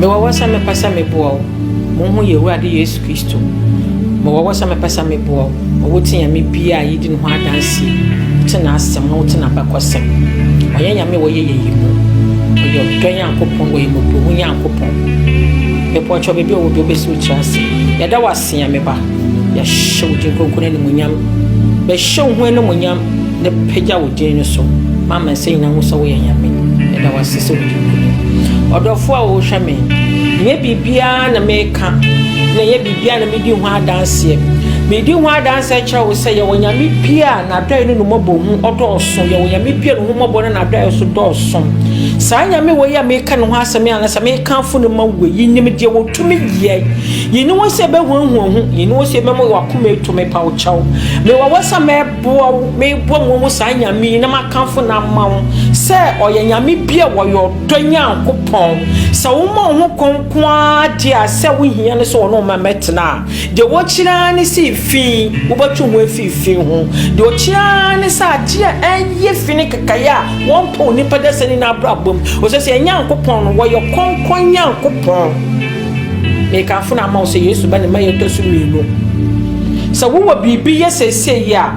Mewɔ hɔ sɛ mɛpɛ sɛ meboa wo. Monhu yɛn Awurade Yesu Kristo. Mewɔ hɔ sɛ mɛpɛ sɛ meboa wo ma woate Nyame bi a yɛdi ne ho adanseɛ, wote n'asɛm na wote n'abakɔsɛm. Ɔnyɛ Nyame a ɔyɛ yɛyi mu. Ɔyɛ ɔdɔ Nyankopɔn, ɔyɛ mmɔborɔhunu Nyankopɔn. Mepɔkyɛ baabi a ɔwɔ biara wobɛsi wo tiri ase. Yɛda wo ase. Teɛ, me ba. Yɛahyɛ wo din kronkron no animuonyam. Bɛhyɛ wo ho animuonyam na pagya wo din no so ma amansan nyinaa nhu sɛ woyɛ Nyame. Yɛda wo ase sɛ wodi nkonim. Ɔdɔfo a wohwɛ me, nyɛ biribiara na meka na ɛnyɛ biribiara na medi ho adanseɛ. Medi ho adanseɛ kyerɛ wo sɛ yɛwɔ Nyame bi a n'adɔe ne ne mmɔbɔhu ɔdɔɔso. Yɛwɔ Nyame bi a ne ho mmɔbɔ ne n'adɔe nso dɔɔso. Saa Nyame wei a meka ne ho asɛm yi anaa sɛ mekamfo no ma wo yi nim deɛ ɔtumi yɛ. Yene wo se bɛhuahua ho, yene wo se mɛmɔ w'akoma eto me paw kyɛw. Mewɔ wo sɛ mɛboa wo, mebɔ mua mu saa Nyame yi na makamfo no ama wo sɛ ɔyɛ Nyame bi a ɔyɛ ɔdɔ Nyankopɔn. Sɛ woma wo ho kɔ nko ara deɛ a sɛ wohia no sɛ ɔne wo mmɛtena a, deɛ wokyerɛ ara ne sɛ fi, wobɛtwe ho afiri fi ho. Deɛ ɔkyerɛ ara ne sɛ adeɛ a ɛnyɛ fi ne kekaeɛ a wɔmpɛ onipa dasani no abrabɔ mu, ɛfiri sɛ Nyankopɔn no, ɔyɛ kronkron Nyankopɔn. Mekamfo no ama wo sɛ Yesu ba ne mma yɛtɔ so mmienu. Sɛ wowɔ biribi yɛ seesei yi a,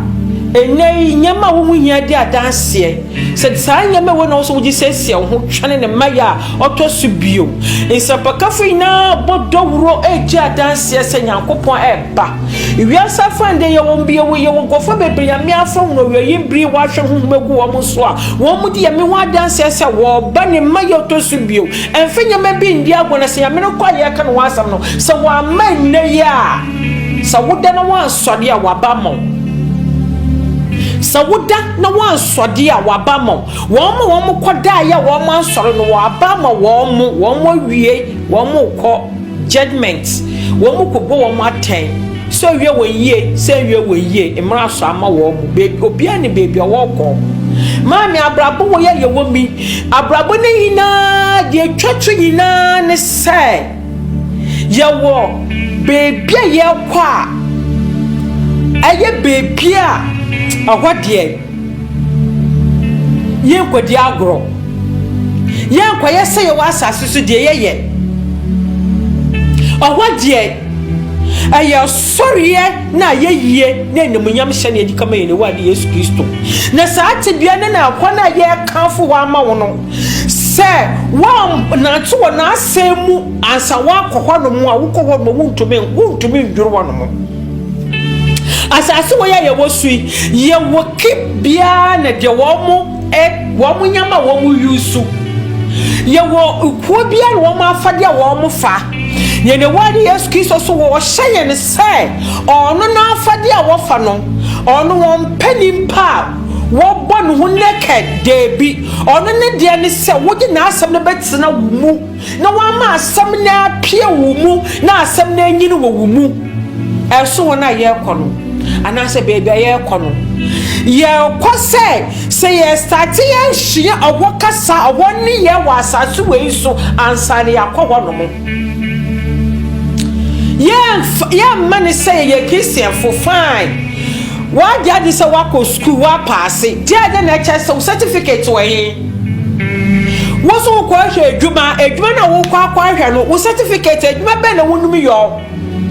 ɛnnɛ yi nneɛma a wohu hia di adanseɛ. Sɛ saa nneɛma wei na wo so wogye siesie wo ho twɛne ne mma yɛ a ɔtɔ so bio. Nsɛmpakafo nyinaa bɔ dawuro regye adanseɛ sɛ Nyankopɔn reba. Wiase afa ndeɛ yɛwɔ yɛwɔ yɛwɔ nkurɔfoɔ bebree Nyame afa hunu ɔwieyim bere wɔahwɛ honhom agu wɔn so a wɔn de Nyame ho adanseɛ sɛ wɔreba ne mma yɛ ɔtɔ so bio. Mfa nneɛma bi ndi agoru na sɛ Nyame no kɔ a yɛreka ne ho asɛm no, sɛ wamma nnɛ yi a, sɛ woda na woansɔre a, waba ama wo. Sɛ woda na woansɔre a, waba ama wo. Wɔn a wɔkɔdaeɛ a wɔansɔre no, waba ama wɔn, wɔawie, wɔrekɔ. Judgement, Wɔn mo ko bɔ wɔn mo atɛn, sɛ ɔyɛ wɔn yie, sɛ ɛnyɛ wɔn yie, mmra so ama wɔn mo, baabi, obiara nim baabi a ɔɔkɔ. Maame, Abrabɔ wɔ yi a yɛwɔ mi, abrabɔ no nyinaa, deɛ ɛtwa to nyinaa ne sɛ, yɛwɔ baabi a yɛɛkɔ a, ɛyɛ baabi a ɛhɔ deɛ. Yɛnkɔdi agorɔ. Yɛnkɔyɛ sɛ yɛwɔ asase so deɛ yɛyɛ. Ɔhɔ deɛ, ɛyɛ ɔsɔreɛ ne ayɛyie ne animuonyam hyɛ na yɛde kama yɛn Awurade Yesu Kristo. Na saa tebea no na ɛhɔ no a yɛrekamfo hɔ ama wo no, sɛ woannante wɔ n'asɛm mu ansa woakɔ hɔnom a, wokɔ hɔnom a, wontumi, wontumi nnworo hɔnom. Asase wei a yɛwɔ so yi, yɛwɔ ki biara na deɛ wɔn mo ɛ wɔn mo nyama a wɔn mo yusu. Yɛwɔ kuo biara na wɔn mo afadeɛ a wɔn mo fa. Yɛn Awurade Yesu Kristo so wɔ ɔhyɛ yɛn sɛ ɔno n'afadeɛ a wɔfa no, ɔno wɔn pɛ nipa a wɔbɔ ne ho naked, daabi. Ɔno ne deɛ ne sɛ wogye n'asɛm no bɛtena wo mu. Na wama asɛm no apue wo mu na asɛm no anyin wɔ wo mu. Ɛso wɔn a yɛrekɔ no, anaasɛ baabi a yɛrekɔ no, yɛrekɔ sɛ sɛ yɛstate yɛasua ɔhɔ kasa, ɔhɔ nneyɛɛ wɔ asase wei so ansa na yɛakɔ hɔnom. Yɛmma no sɛ yɛyɛ Christianfo, fine. Woagye adi sɛ woakɔ sukuu, woapaase. Deɛ ɛdɛ na ɛkyɛ sɛ wo certificate wɔ he? Wo so wokɔ ahwɛ adwuma, adwuma na wokɔ akɔ ahwɛ no, wo certificate, adwuma bɛn na wonom yɔ?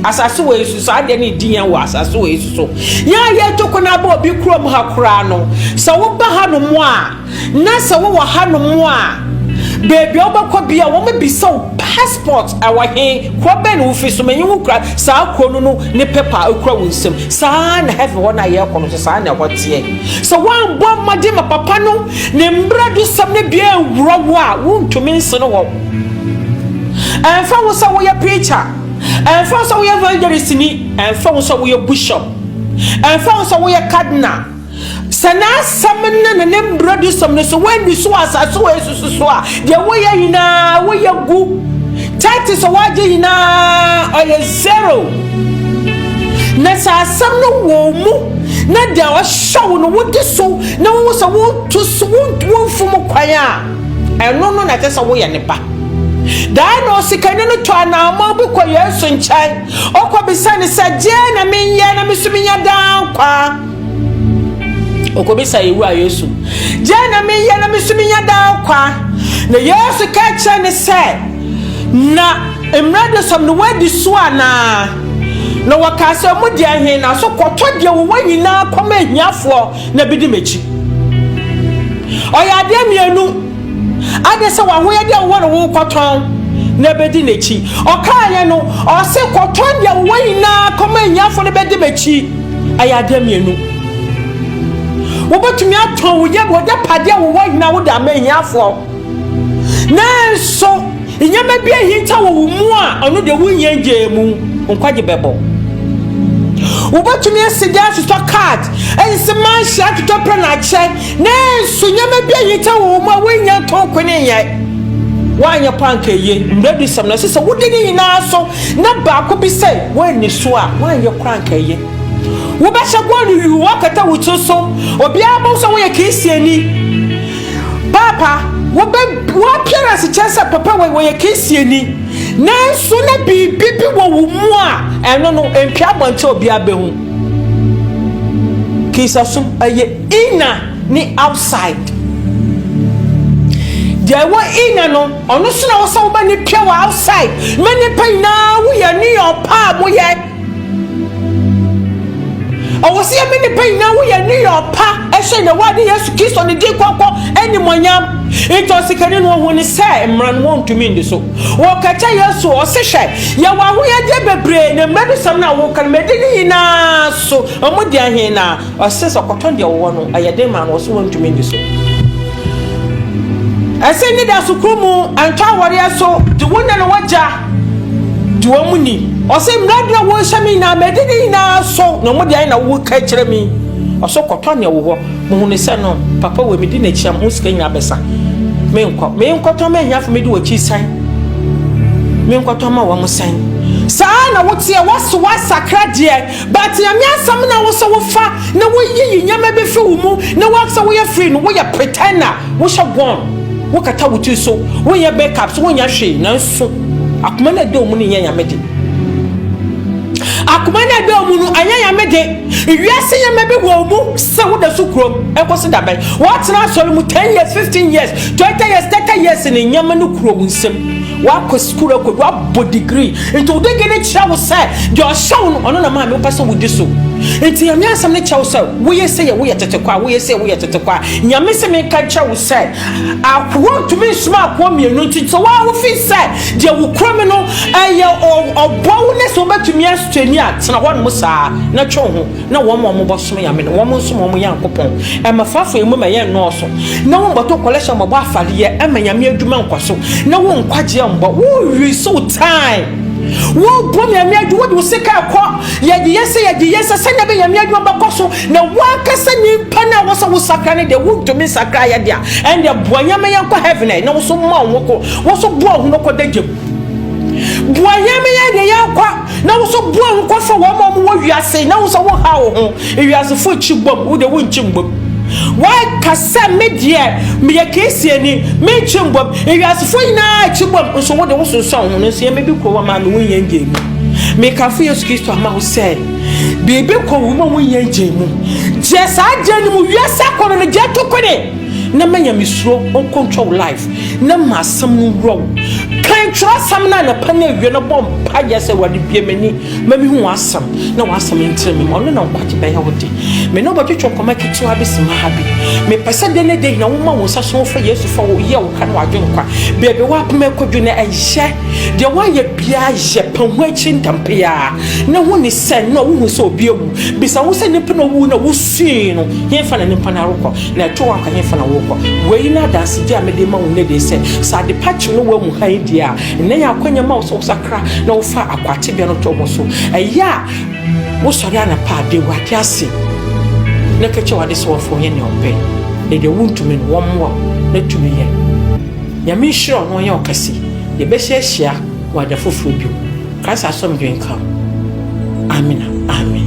Asase wɔ esu, saa deɛ ne di yɛn wɔ asase wɔ esu so. Yɛn a yɛretu kwan aba obi kurom ha koraa no, sɛ woba hanom a, na sɛ wowɔ hanom a, baabi a wobɛkɔ bia wɔn bisa wo passport ɛwɔ he, kuro bɛn na wofi so, menye wo kura saa kuro no no ne paper ekura wo nsam. Saa na heaven hɔ no a yɛrekɔ no so, saa na ɛhɔ teɛ. Sɛ woambɔ mmɔden ma papa no, Ne mmaradosɛm no bi anwura wo a wontumi nsen hɔ. Ɛmfa ho sɛ woyɛ preacher, ɛmfa ho sɛ woyɛ evangelistni, ɛmfa ho sɛ woyɛ bishop, ɛmfa ho sɛ woyɛ cardinal, sɛ n'asɛm no ne ne mmaradosɛm no so woanni so wɔ asase wɔ esusu so a, deɛ woyɛ nyinaa woyɛ gu. Tithe sɛ woagye nyinaa ɔyɛ zero. Na sɛ asɛm no wɔ mu na deɛ ɔhyɛ wo no wode so Na wohu sɛ wotu so, womfom kwan a, ɛno no na ɛsɛ sɛ woyɛ ne ba. Daa na osikani no to anammɔn bi kɔ Yesu nkyɛn, ɔkɔbisa no sɛ, Deɛn na menyɛ na me so menya daa nkwa? Ɔkɔbisa yɛn Wura Yesu, Deɛn na menyɛ na me so menya daa nkwa? Na Yesu ka kyerɛ no sɛ, Na mmerɛ de sɔm no woadi so anaa? Na wɔkaa sɛ, Mu deɛ he na so kɔtɔ deɛ wowɔ nyinaa kɔma ahiafoɔ, na bedi m'akyi. Ɔyɛ adeɛ mmienu, Ade sɛ w'ahoyɛdeɛ a wowɔ no wokɔtɔn na bedi n'akyi. Ɔkaeɛ no, ɔse kɔtɔn deɛ wowɔ nyinaa kɔma ahiafoɔ na bedi m'akyi. Ɛyɛ adeɛ mmienu. Wobɛtumi atɔn wo yɛ w'agyapadeɛ a wowɔ nyinaa wode ama ahiafoɔ. Nanso, nneɛma bi ahinta wɔ wo mu a ɔno deɛ wohia gyee mu nkwagye bɛbɔ. Wobɛtumi asi gya atotɔ kaad, asi manhyia atotɔ pɛ na akyɛ, nanso nneɛma bi ahinta wɔ wo mu a wohia ntɔn ko ne nyɛ. Woanyɛ pɔ anka eye. Mmerɛdusɛm no, ɛsɛ sɛ wodi ne nyinaa so, na baako bi sɛ woanni so a, woanyɛ koraa anka eye. Wobɛhyɛ gold yuu akata wo tiri so, obiara bɛhu sɛ woyɛ Kristiani. Paapa, wo bɛ, wo appearance kyerɛ sɛ papa wei wɔyɛ Kristiani, nanso na biribi bi wɔ wo mu a ɛno no mpia abɔnten obiara bɛhu. Kristasom, ɛyɛ inner ne outside. Deɛ ɛwɔ inner no, ɔno nso na wɔ sɛ wobɛne pia wɔ outside. Mɛ nnipa nyinaa woyɛ ne ɔpaa mo yɛ. Ɔwɔ sɛ yɛme nnipa nyinaa wo yɛ nneyɛ ɔpa hyɛ na wa ne Yesu Kristo ne din kɔkɔ animonyam. Nti ɔsikani no ɔhu ne sɛ mmara no wɔntumi ndi so. Wɔka kyɛ Yesu ɔse hwɛ yɛwɔ ahoyɛdeɛ bebree na mmara bi sɛm no a woka no mɛdi ne nyinaa so ɔmo deɛ he na ɔse sɛ ɔkɔtɔn deɛ ɔwɔ no ɛyɛ den ma no ɔse wɔntumi ndi so. Ɛse ne da so koro mu ɛntɔ awɔreɛ so de wo na ne wagya gye wɔn mu ni. Ɔsɛ mmara bi a wɔhyɛ me nyinaa madi ne nyinaa so na wɔn deɛ na wɔka kyerɛ me. Ɔsɛ kɔtɔ nea wɔ hɔ. Mohunu sɛ no, papa wei medi n'akyi a mo sika nyinaa bɛsa. Menkɔ. Menkɔtɔ ma ahiafo medi wɔakyi sɛn? Menkɔtɔ ma wɔn sɛn? Saa na woteɛ, wɔse woasakra deɛ. But Nyame asɛm na wosɛ wofa na woyiyi nneɛma bi firi wo mu na wosɛ woyɛ free no, woyɛ pretender, wohyɛ gown, wokata wo tiri so, wonyɛ makeups, wonyɛ hwee, nanso akoma no a ɛda wo mu no nyɛ Nyame de. Akoma no a ɛda wo mu no ɛnyɛ Nyame de. Wiase nneɛma bi wɔ wo mu sɛ woda so kurom, ɛkɔsi da bɛn? Woatena asɔre mu ten years, fifteen years, twenty years, thirty years no nneɛma no kura wo nsam. Woakɔ sukuu akɔdu, woabɔ degree, nti wo degree no kyerɛ wo sɛ deɛ ɔhyɛ wo no, ɔno na maame wopɛ sɛ wodi so. Nti Nyame asɛm no kyerɛ wo sɛ woyɛ sei a, woyɛ tete kwa, woyɛ sei a, woyɛ tete kwa. Nyame se menka nkyerɛ wo sɛ, akoa ntumi nsoma akoa mmienu, nti sɛ woa wofi sɛ deɛ wokura mu no ɛyɛ ɔboa wo ne sɛ wobɛtumi asustain a, tena hɔnom saa na twe wo ho. na wɔn a wɔbɔsom nyame no wɔn nso ma wɔn Nyankopɔn ɛma fafo emu ma yɛn nnɔɔso, na wɔbɔtɔ kɔlɛhyɛ wɔbɔ afadeɛ ɛma nyame adwuma nkɔso, na wɔn nkwagyeɛ mbɔ wɔn wi so tae, wɔbɔ nyame adwuma wɔde wo sika ɛkɔ yɛde yɛ sɛ yɛde yɛ sɛ sɛnea bɛ nyame adwuma bɛkɔ so, na wankasa nipa no a wɔsɛ wo sakra no deɛ wontumi nsakra yɛ deɛ a ɛndeɛ boa nyame yɛn kɔ heaven ɛ na wɔso ma wɔn kɔ wɔso boa wɔn kɔ da gyem boa nyame yɛn deɛ yɛn kɔ. Na wo nso bue wo kɔ fa wɔn a wɔwɔ wiase na wo sɛ wo ha wo ho. Ewiasefo kyi bom, wo de wo nkyi mbom. Wɔka sɛ me deɛ meyɛ Kristiani, me nkyi mbom. Ewiasefo nyinaa kyi bom, nso wo de wo sunsuan wo ho. Nanso yɛn baabi kɔ wɔ ma me wo nyɛ ngye mu. Mekamfo Yesu Kristo ama wo sɛ, biribi kɔ wo ma wo nyɛ ngye mu. Gye saa gye no mu, wiase akɔnnɔ no gye to kone. na ma nyamesuro nkontwa wo life na ma asɛm no nwura wo kan twerɛsɛm no anapa no awie no bɔ mpayɛ sɛ awurade bie m'ani ma mehu w'asɛm na w'asɛm ntere me mu ɔno na nkwagye bɛyɛ wo de me ne wobɛtwetwe nkɔma ketewa bi sima ha bi mepɛ sɛ dɛ ne dɛ nyina woma wo nsa so wofa yesu fa wo yɛ wo ka no wadwe nkwa baabi woapem akɔdwu no ɛyɛ deɛ woayɛ biaa yɛ pa ho akyi ntampeaa na ho ni sɛ na wohu sɛ obi awu bisa wo sɛ nipa na owu na wosui no yɛmfa na nipa no arokɔ Na ɛto wo anka hefa na worekɔ? Wei ne adansegye a mede rema wo nnɛ dee sɛ, sɛ adepa kye no wɔ amu hann die a, nnɛ yɛ akwanya ma wo sɛ wosakra na wofa akwaa tebea no to wo so. Ɛyɛ a wosɔre anapa a, da Awurade ase na ka kyerɛ w'adesoafoɔ ɔnyɛ nea ɔpɛ, na deɛ wontumi no, wɔmmoa wo na tumi yɛ. Nyame nhyira wo na ɔnyɛ wo kɛse. Yɛbɛhyɛ ahyia wɔ ada foforɔ bio. Christ asomdwe nka wo. Amina Amen.